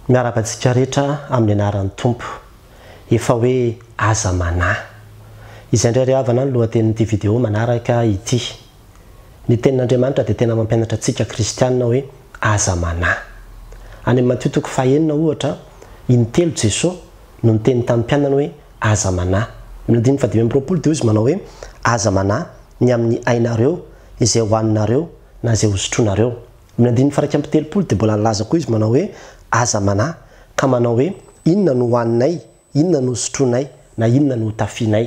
Miarahaba antsika rehetra amin'ny anaran'ny Tompo. Efa hoe aza manahy. Izay indray ry havana no lohatenin'ity video manaraka ity. Ny Tenin'Andriamanitra dia tena mampianatra antsika kristiana hoe aza manahy. Any amin'ny Matio toko fahenina ohatra, intelo Jesoa no niteny tamin'ny mpianany hoe aza manahy. Ny andininy fahadimy amby roapolo dia hoy izy manao hoe aza manahy ny amin'ny ainareo, izay hohaninareo na izay hosotroinareo. Ny andininy faraika amby telopolo dia mbola nilaza koa izy manao hoe, Aza manahy, ka manao hoe, Inona no hohaninay? Inona no hosotroinay? na Inona no hotafianay?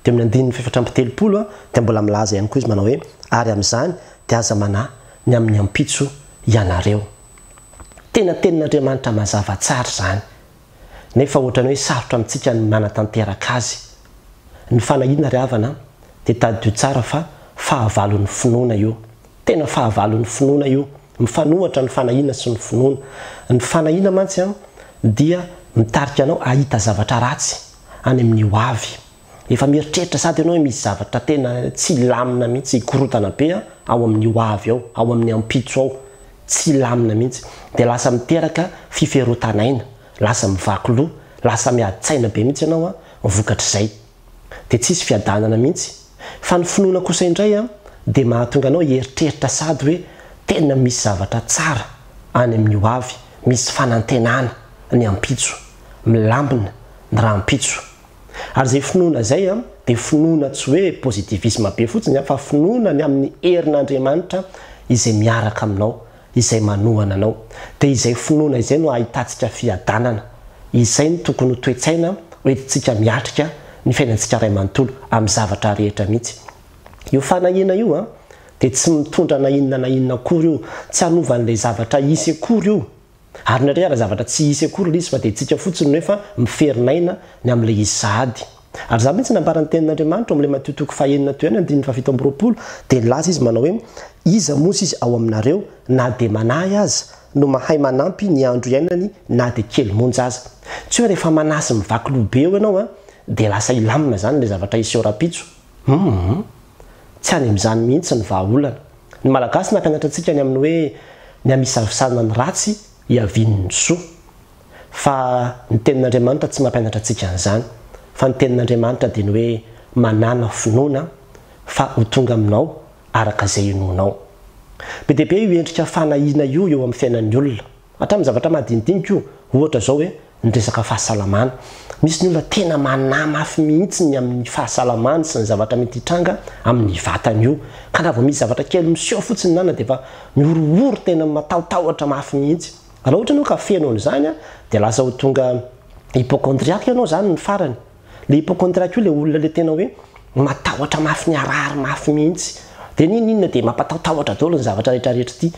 Dia amin'ny andininy fahefatra amby telopolo dia mbola milaza ihany koa izy manao hoe, Ary amin'izany dia aza manahy ny amin'ny ampitso ianareo. Tena tenin'Andriamanitra mazava tsara izany. nefa ohatrany hoe sarotra amintsika ny manatanteraka azy. Ny fanahiana ry havana an, dia tadidio tsara fa fahavalon'ny finoana io. Tena fahavalon'ny finoana io. Mifanohatra ny fanahiana sy ny finoana. Ny fanahiana mantsy an, dia mitarika anao hahita zavatra ratsy any amin'ny hoavy. Efa mieritreritra sady ianao hoe misy zavatra tena tsy lamina mihitsy hikorotana be ao amin'ny ho avy ao, ao amin'ny ampitso ao, tsy lamina mihitsy. Dia lasa miteraka fiferotan'aina, lasa mivaky loha, lasa miadin-tsaina be mihitsy ianao vokatr'izay. Dia tsisy fiadanana mihitsy. Fa ny finoana kosa indray dia mahatonga anao hieritreritra sady hoe tena misy zavatra tsara any amin'ny ho avy, misy fanantenana ny ampitso, milamina ny rahampitso. Ary izay finoana izay dia finoana tsy hoe positivisme be fotsiny fa finoana ny amin'ny herin'Andriamanitra izay miaraka aminao, izay manohana anao. Dia izay finoana izay no ahitantsika fiadanana. Izay no tokony ho toe-tsaina hoentintsika miatrika ny fiainantsika iray manontolo, amin'ny zavatra rehetra mihitsy. Io fanahiana io dia tsy mitondra na inona na inona akory io, tsy hanova an'ilay zavatra hisy akory io. Ary ny rehetra zavatra tsy hisy akory ilay izy fa dia antsika fotsiny no efa miferin'aina ny amin'ilay izy sahady. Ary izany mihitsy no nambaran'ny Tenin'Andriamanitra ao amin'ilay Matio toko fahenina toy an'ny andininy fahafito amby roapolo, dia nilaza izy manao hoe, Iza moa sisa ao aminareo, na dia manahy aza, no mahay manampy ny andro iainany na dia kely monja aza? Tsy hoe rehefa manahy sy mivaky loha be eo ianao dia lasa hilamina izany ilay zavatra hiseho rahampitso. Humm. Tsy any amin'izany mihitsy ny vahaolana. Ny Malagasy nakanatra antsika any amin'ny hoe ny hamisavisana ny ratsy hiaviany ny soa. Fa ny tenin'Andriamanitra tsy mampianatra antsika an'izany. Fa ny tenin'Andriamanitra dia ny hoe manàna finoana fa ho tonga aminao araka izay inoanao. Be dia be io endrika fanahiana io eo amin'ny fiainan'ny olona. Hatramin'ny zavatra madinidinika io, ohatra izao hoe ny resaka fahasalamana. Misy ny olona tena manahy mafy mihitsy ny amin'ny fahasalamany sy ny zavatra mety hitranga amin'ny vatany io. Ka raha vao misy zavatra kely miseho fotsiny nana dia efa mihorohoro tena matahotahotra mafy mihitsy. Raha ohatra ianao ka feno an'izany dia lasa ho tonga hypochondriaque ianao izany ny farany. Ilay hypochondriaque io ilay olona ilay tena hoe matahotra mafy miharary mafy mihitsy. Dia n'inon'inona dia mampatahotahotra daholo ny zavatra rehetrarehetra ity.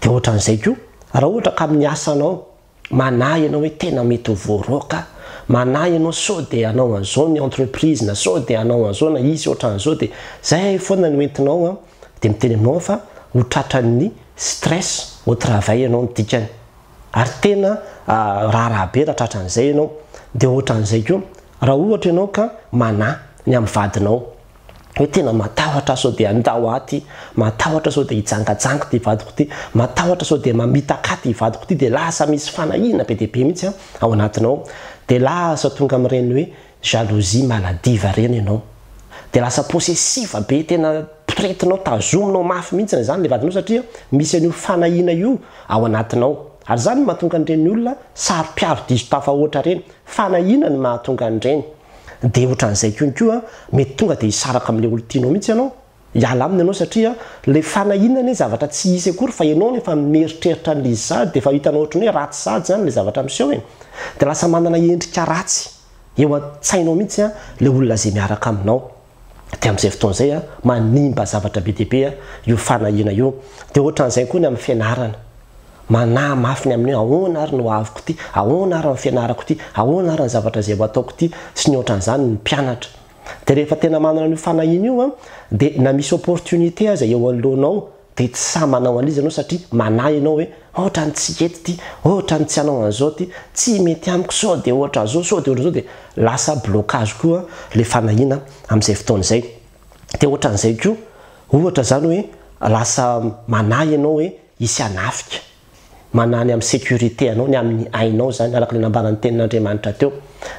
Dia ohatran'izay koa, raha ohatra ka amin'ny asanao, manahy ianao hoe tena mety ho voaroaka, manahy ianao sao dia hanao an'izao ny entreprise na sao dia hanao an'izao na hisy ohatran'izao dia izay foana no entinao an, dia miteny aminao aho fa ho tratran'ny stress au travail ianao ny dikany. Ary tena raharaha be raha tratran'izay ianao. Dia ohatran'izay koa, raha ohatra ianao ka manahy ny amin'ny vadinao, hoe tena matahotra aho sao dia handao ahy ity, matahotra sao dia hijangajanga ity vadiko ity, matahotra sao dia mamitaka ahy ity vadiko ity, dia lasa misy fanahiana be dia be mihitsy ao anatinao, dia lasa tonga amin'ireny hoe jalousie maladiva ireny ianao, dia lasa possessif be, tena poretinao, tazominao mafy mihitsy izany ilay vadinao satria misy an'io fanahiana io ao anatinao, ary izany no mahatonga an'ireny olona saro-piaro diso tafahoatra ireny, fanahiana no mahatonga an'ireny. dia otran'izay koa koa mety tonga dia hisaraka amin'ilay olon-tianao mihitsy ianao, hiala aminy ianao satria ilay fanahiana anie zavatra tsy hisy akory fa ianao no efa mieritreritra an'ilay izy sahady dia efa hitanao ohatran'ny hoe ratsy sahady izany ilay zavatra miseho e! dia lasa manana endrika ratsy eo an-tsainao mihitsy ilay olona izay miaraka aminao. Dia amin'izay fotoana izay, manimba zavatra be dia be io fanahiana io. Dia hoatran'izay koa ny amin'ny fianarana. Manahy mafy ny amin'ny hoe ahoana ary ny hoaviko ity, ahoana ary ny fianarako ity, ahoana ary ny zavatra izay ho ataoko ity, sy ny hoatran'izany ny mpianatra. Dia rehefa tena manana an'io fanahiana io, dia na misy opportunité aza eo anoloanao dia tsy sahy manao an'izy ianao satria manahy ianao hoe ohatrany tsy hety ity, ohatrany tsy hanao an'izao ity, tsy mety amiko sao dia ohatran'izao, sao dia ohatran'izao dia lasa blocage koa ilay fanahiana amin'izay fotoana izay. Dia ohatran'izay koa ohatra izany hoe lasa manahy ianao hoe hisy hanafika, manahy ny amin'ny sécurité anao, ny amin'ny ainao izany araka ilay nambaran'ny tenin'Andriamanitra teo.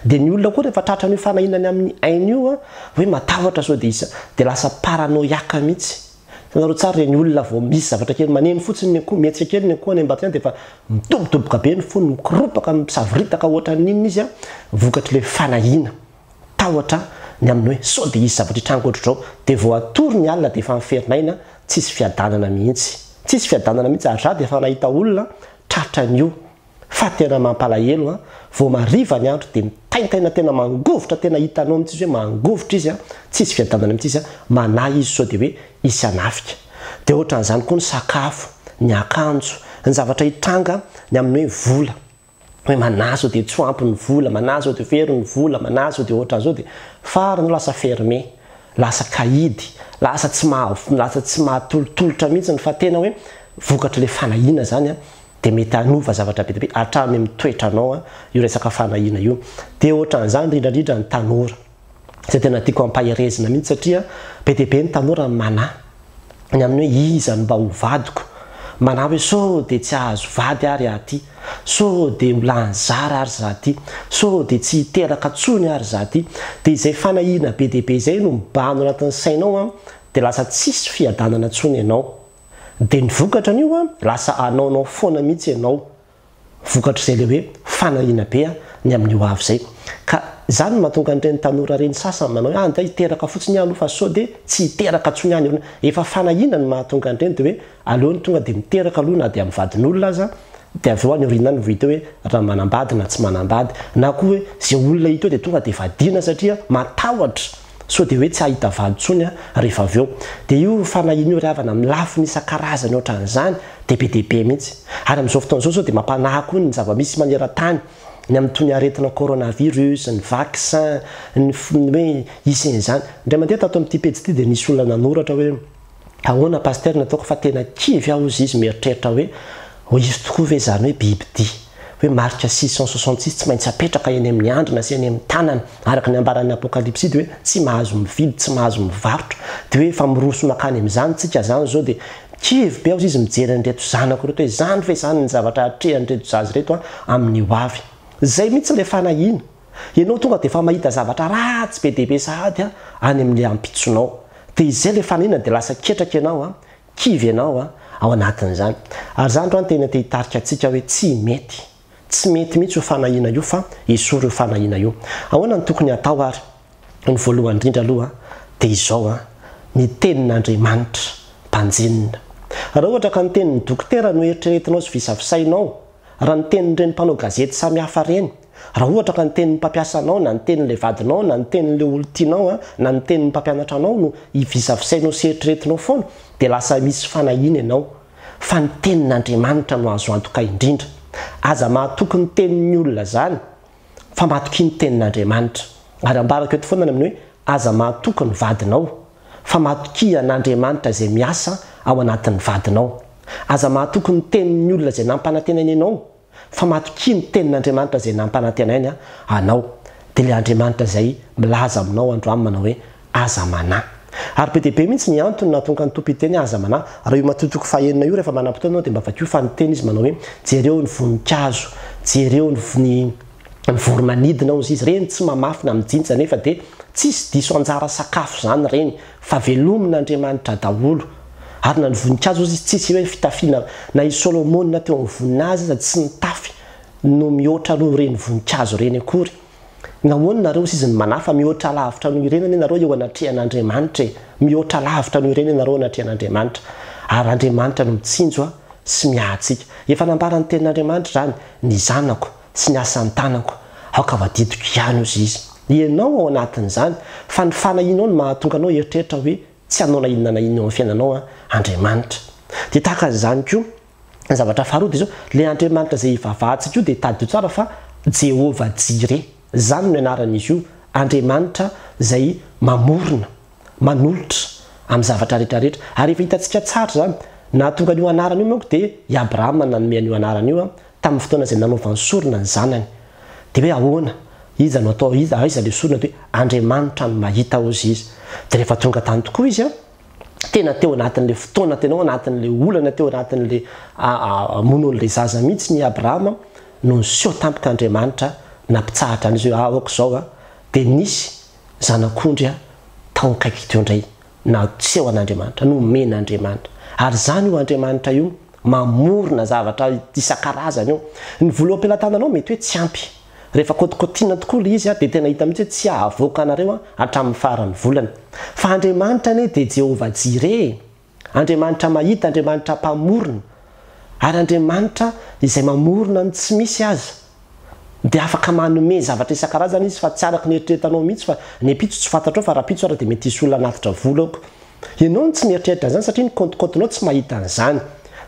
Dia ny olona koa rehefa tratran'io fanahiana ny amin'ny ainy io hoe matahotra sao dia hisy, dia lasa paranoïaque mihitsy. Hitanareo tsara ireny olona vao misy zavatra kely maneno fotsiny ny akoho, mihetsika kely ny akoho any ambato any dia efa midobodoboka be ny fony, mikoropaka, misavoritaka ohatran'ny inona izy an! vokatr'ilay fanahiana, tahotra ny amin'ny hoe sao dia hisy zavatra hitranga ohatr'izao, dia vao hatory ny alina dia efa miferin'aina, tsisy fiadanana mihitsy, tsisy fiadanana mihitsy, ary za dia efa nahita olona tratra an'io, Fa tena mampalahelo an! Vao mariva ny andro dia mitaintaina tena mangovitra tena hitanao mitsy hoe mangovitra izy an! Tsisy fiadanana mitsy izy an! Manahy izy sao dia hoe hisy hanafika! Dia ohatran'izany koa ny sakafo, ny akanjo, ny zavatra hitranga ny amin'ny hoe vola. Hoe manahy sao dia tsy ho ampy ny vola, manahy sao dia very ny vola, manahy sao dia ohatran'izao dia farany aloha lasa fermé, lasa kahidy, lasa tsy maha lasa tsy mahatolotolotra mitsy ny fa tena hoe vokatr'ilay fanahiana izany an! dia mety hanova zavatra be dia be hatramin'ny amin'ny toetranao io resaka fanahiana io. Dia ohatran'izany indrindra indrindra ny tanora izay tena tiako hampaherezina mihitsy satria be dia be ny tanora ny manahy ny amin'ny hoe iza no mba ho vadiko, manahy hoe sao dia tsy hahazo vady ary aho ity, sao dia ho lany zara ary izaho ity, sao dia tsy hiteraka intsony ary izaho ity. Dia izay fanahiana be dia be izay no mibano ao anatin'ny sainao dia lasa tsisy fiadanana intsony ianao. Dia ny vokatra an'io an, lasa anaonao foana mihitsy ianao, vokatr'izay ilay hoe fanahiana be ny amin'ny ho avy izay. Ka izany no mahatonga an'ireny tanora ireny sasany manao hoe, andeha hiteraka fotsiny aho aloha fa sao dia tsy hiteraka intsony any ireo. Efa fanahiana no mahatonga an'ireny, dia hoe aleony tonga dia miteraka aloha na dia amin'ny vadin'olona aza, Dia avy eo any aoriana any no hita hoe raha manambady na tsy manambady. Na koa hoe izay olona hita eo dia tonga dia vadiana satria matahotra sao dia hoe tsy hahita vady intsony aho rehefa avy eo. Dia io fanahiana io ry havana amin'ny lafiny isan-karazany ohatran'izany dia be dia be mihitsy. Ary amin'izao fotoana izao sao dia mampanahy koa ny zava-misy maneran-tany, ny amin'itony aretina coronavirus, ny vaccin, ny hoe hisian'izany. Indray mandeha tato amin'ity pejy ity dia nisy olona nanoratra hoe. Ahoana Pasteur ny ataoko fa tena kivy aho hozy izy mieritreritra hoe ho izy tokoa ve izany hoe bibidia? Hoe marika six cent soixante six tsy maintsy apetraka eny amin'ny handrina sy eny amin'ny tanana araka ny ambaran'ny apokalypsy dia hoe tsy mahazo mividy tsy mahazo mivarotra dia hoe efa miroso makany amin'izany tsika izany izao dia kivy be aho hozy izy mijery an'ireto zanako ireto hoe izany ve izany ny zavatra atrehan'ireto zaza ireto amin'ny hoavy? Izay mihitsy ilay fanahiana. Ianao tonga dia efa mahita zavatra ratsy be dia be sahady any amin'ilay ampitsonao. Dia izay ilay fanainana dia lasa ketraka ianao, kivy ianao ao anatin'izany. Ary izany ry an tena te hitarika antsika hoe tsy mety. Tsy mety mihitsy io fanahiana io fa esory io fanahiana io. Ahoana no tokony hatao ary? Ny voalohany indrindra aloha dia izao, ny tenin'Andriamanitra mpanjinina. Raha ohatra ka ny tenin'ny dokotera no eritreretinao sy visavisainao Raha ny tenin'ireny mpanao gazety samihafa ireny, raha ohatra ka ny tenin'ny mpampiasa anao na ny tenin'ilay vadinao na ny tenin'ilay olon-tianao na ny tenin'ny mpampianatra anao no ivisavisainao sy eritreretinao foana dia lasa misy fanahiana ianao fa ny tenin'Andriamanitra no azo antoka indrindra. Aza mahatoky ny tenin'ny olona izany fa matokia ny tenin'Andriamanitra. Ary ambarako eto foana ny amin'ny hoe aza mahatoky ny vadinao. fa matokia an'Andriamanitra izay miasa ao anatin'ny vadinao. Aza mahatoky ny tenin'ny olona izay nampanantenainy anao, fa matokia ny tenin'Andriamanitra izay nampanantenainy anao. Dia ilay Andriamanitra izay milaza aminao androany manao hoe, Aza manahy. Ary be dia be mihitsy ny antony nahatonga ny Tompo hiteny hoe, Aza manahy. Raha io matontoko fahenina io, rehefa manam-potoana ianao, dia mba vakio fa niteny Izy manao hoe, Jereo ny voninkazo, jereo ny. Ny voromanidina hozy izy reny tsy mamafina amin'ny jinja nefa dia tsisy diso anjara sakafo zany reny fa velomin' Andriamanitra daholo ary na ny voninkazo hozy izy tsisy hoe fitafiana na i Solomona teo amin'ny vonina azy aza tsy nitafy no mihoatra noho ireny voninkazo ireny akory nahoana nareo hozy izy ny manahy fa mihoatra lavitra noho ireny anie nareo eo anatrehan' Andriamanitra e mihoatra lavitra noho ireny ianareo anatrehan' Andriamanitra ary Andriamanitra no mitsinjo sy miahy antsika efa nambara ny tenin' Andriamanitra izany ny zanako Tsy ny asan-tanako, aoka vadidiko ihany hozy izy. Ianao ao anatin'izany, fa ny fanahianao no mahatonga anao hieritreritra hoe tsy hanao na inona na inona eo amin'ny fiainanao Andriamanitra. Dia tahaka an'izany koa, ny zavatra faharoa dia izao, ilay Andriamanitra izay ivavahantsika io dia tadidio tsara fa Jehovah Jireh. Izany no anaran'izy io, Andriamanitra izay mamorona, manolotra amin'ny zavatra rehetrarehetra. Ary efa hitantsika tsara izany. Nahatonga an'io anarana io manko dia i Abrahama no nanome an'io anarana io, Tamin'ny fotoana izay nanaovany sorona ny zanany, dia hoe ahoana? Iza no atao, iza, aiza ilay sorona? Dia hoe Andriamanitra no mahita, hozy izy. Dia rehefa tonga tany tokoa izy, tena teo anatin'ilay fotoana, tena ao anatin'ilay olana, teo anatin'ilay hamonoan'ilay zaza mihitsy i Abrahama, no niseho tampoka Andriamanitra, nampitsahatra an'izy hoe, Aoka izao an! Dia nisy zanak'ondry tao akaikiko teo indray. na tsy eo an'Andriamanitra, nomen'Andriamanitra. Ary izany io Andriamanitra io mamorona zavatra isan-karazany io. Ny voloham-pelatananao mety hoe tsy ampy. Rehefa kotikotina tokoa ilay izy dia tena hita mihitsy hoe tsy hahavoaka anareo hatramin'ny faran'ny volana. Fa Andriamanitra anie dia Jehovah Jireh e! Andriamanitra mahita, Andriamanitra Mpamorona, ary Andriamanitra izay mamorona ny tsy misy aza. dia afaka manome zavatra isan-karazany izy fa tsy araka ny eritreretanao mihitsy fa ny ampitso tsy fantatrao fa rahampitso ary dia mety hisy olona hanatitra vola aoka. Ianao no tsy mieritreritra an'izany satria ny kaontikaontinao tsy mahita an'izany.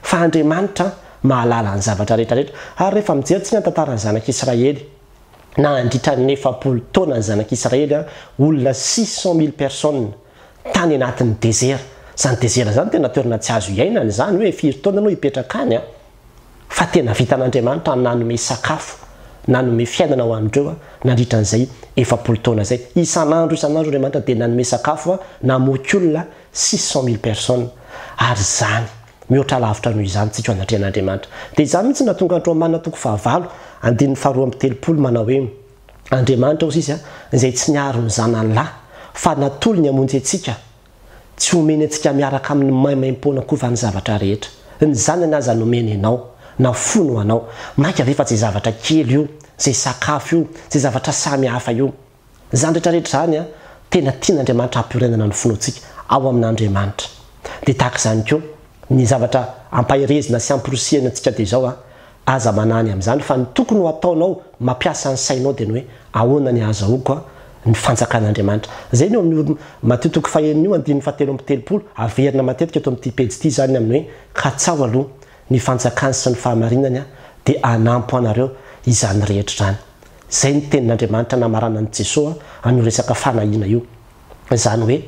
Fa Andriamanitra mahalala ny zavatra rehetrarehetra. Ary rehefa mijery tsika ny tantaran'ny zanak'i Israely, nandritra ny efapolo taona ny zanak'i Israely, olona six cent mille personnes tany anatin'ny desert. Izany desert izany tena toerana tsy azo iainana izany hoe firy taona ianao hipetraka any. fa tena vitan'Andriamanitra ny nanome sakafo, nanome fiainana ho an'ireo nandritra an'izay efapolo taona izay. Isan'andro isan'andro Andriamanitra dia nanome sakafo, namoky olona six cent mille personnes. Ary izany, mihoatra lavitra noho izany tsika eo anatrehan'Andriamanitra. Dia izany mihitsy no nahatonga an'i Romana toko fahavalo, andininy faharoa amby telopolo manao hoe, Andriamanitra hozy Izy izay tsy niaro ny zanany lahy, fa natolony hamonjy antsika Tsy omeny antsika miaraka amin'ny maimaimpoana koa va ny zavatra rehetra? Ny Zanany aza nomeny anao, na fony ho anao. Mainka ve fa izay zavatra kely io, izay sakafo io, izay zavatra samy hafa io. Izany rehetra rehetra izany an, tena tian'Andriamanitra hampiorenana ny finoantsika ao amin'Andriamanitra. Dia tahaka izany koa. Ny zavatra ampaherezina sy amporisihan antsika dia izao a, aza manany amin'izany fa ny tokony ho ataonao mampiasa ny sainao dia ny hoe ahoana ny ahazahoako ny fanjakan'Andriamanitra. Izay no eo amin'ny ord. Matio toko fahenina io andininy fahatelo amby telopolo, averina matetika eto amin'ity pejy ity izany ny amin'ny hoe katsaho aloha ny fanjakany sy ny fahamarinany dia hanampo anareo izany rehetra izany. Izay ny tenin'Andriamanitra namaranan'i Jesoa an'io resaka fanahiana io. Izany hoe,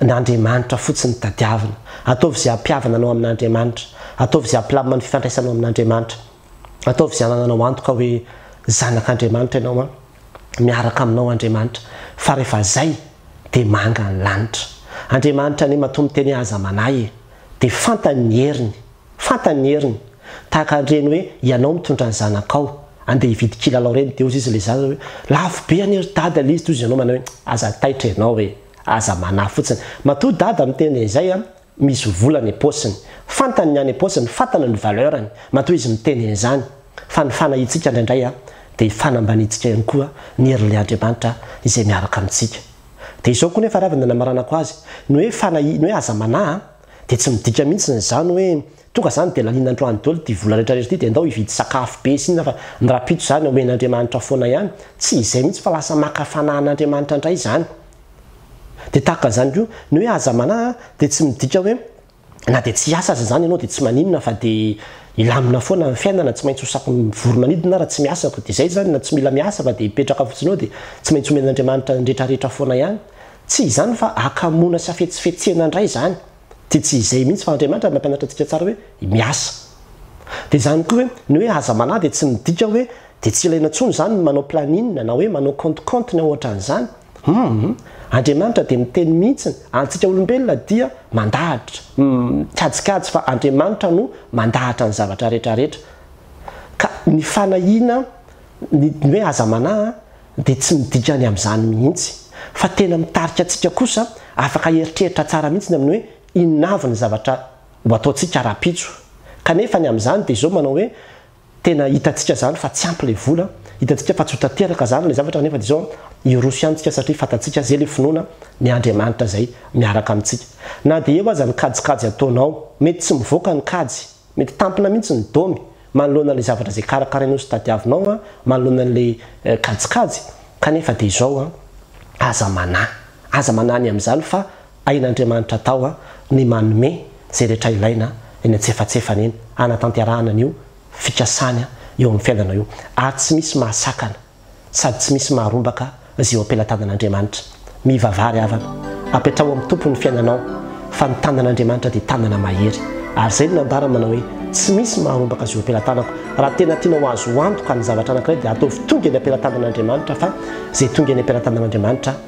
Ny Andriamanitra fotsiny no tadiavina. Ataovy izay hampihavana anao amin'Andriamanitra. Ataovy izay hampilamina ny fifandraisanao amin'Andriamanitra. Ataovy izay hanananao antoka hoe zanak'Andriamanitra ianao an! Miaraka aminao Andriamanitra. Fa rehefa izay, dia manga ny lanitra. Andriamanitra anie matoa miteny hoe aza manahy e! Dia fantany ny heriny. Fantany ny heriny. Tahaka an'ireny hoe ianao mitondra ny zanakao andeha hividy kilalao ireny dia hozy izy ilay zaza hoe lafo be anie ry dada ilay izy dia hozy ianao manao hoe aza taitra ianao e! aza manahy fotsiny. Matoa dada miteny an'izay an! misy vola any am-paosiny. Fantany ny any am-paosiny, fantany ny valeur-ny. Matoa izy miteny an'izany. Fa ny fanahiantsika indraindray an! dia ifanambaniantsika ihany koa ny herin'ilay Andriamanitra izay miaraka amintsika. Dia izao koa nefa ry havana no namaranako azy, ny hoe fanahiana, ny hoe aza manahy an! Dia tsy midika mihitsy izany hoe tonga izany dia lalina androany daholo ity vola rehetra rehetra ity dia andao hividy sakafo be sy inona fa ny rahampitso izany omen'Andriamanitra foana ihany. Tsy izay mihitsy fa lasa maka fanahin'Andriamanitra indray izany. Dia tahaka an'izany koa ny hoe aza manahy dia tsy midika hoe na dia tsy hiasa aza izany ianao dia tsy maninona fa dia hilamina foana ny fiainana, tsy maintsy ho saky mivory manidina ary tsy miasa koa dia izay izany na tsy mila miasa fa dia hipetraka fotsiny eo dia tsy maintsy omen'Andriamanitra ny rehetra rehetra foana ihany. Tsy izany fa hakamoana sy hafetsifetsehana indray izany, dia tsy izay mihitsy fa Andriamanitra nampianatra antsika tsara hoe miasa. Dia izany koa hoe ny hoe aza manahy dia tsy midika hoe dia tsy ilaina intsony izany ny manao planine na hoe manao kaonty kaonty na ohatran'izany. Humm! Andriamanitra dia miteny mihitsiny, antsika olombelona dia mandahatra, mikajikajy fa Andriamanitra no mandahatra ny zavatra rehetra rehetra. Ka ny fanahiana ny hoe aza manahy dia tsy midika ny amin'izany mihitsy, fa tena mitarika antsika kosa afaka hieritreritra tsara mihitsy ny amin'ny hoe inona avy ny zavatra ho ataontsika rahampitso. Kanefa ny amin'izany dia izao manao hoe tena hitantsika izany fa tsy ampy ilay vola, hitantsika fa tsy ho tanteraka izany ilay zavatra kanefa dia izao hiroso ihany isika satria fantatsika izay ilay finoana ny Andriamanitra izay miaraka amintsika. Na dia eo aza ny kajikajy ataonao, mety tsy mivoaka ny kajy, Mety tampina mihitsy ny domy manoloana ilay zavatra izay karakarainao sy tadiavinao manoloana an'ilay kajikajy, kanefa dia izao an, aza manahy, aza manahy ny amin'izany fa hain'Andriamanitra atao ny manome izay rehetra ilaina eny an-tsefatsefany eny hanatanterahana an'io fikasany eo amin'ny fiainanao io, ary tsy misy mahasakana. sady tsy misy maharombaka Zay eo am-pelatanan'Andriamanitra. Mivavaha ry havana, apetraho amin'ny Tompo ny fiainanao, fa ny tanan'Andriamanitra dia tanana mahery. Ary izay no nambarany manao hoe, Tsy misy maharombaka Zay eo am-pelatanako. Raha tena tianao hahazoa antoka ny zavatra anankiray dia ataovy tonga eny am-pelatanan'Andriamanitra, fa Zay tonga eny am-pelatanan'Andriamanitra,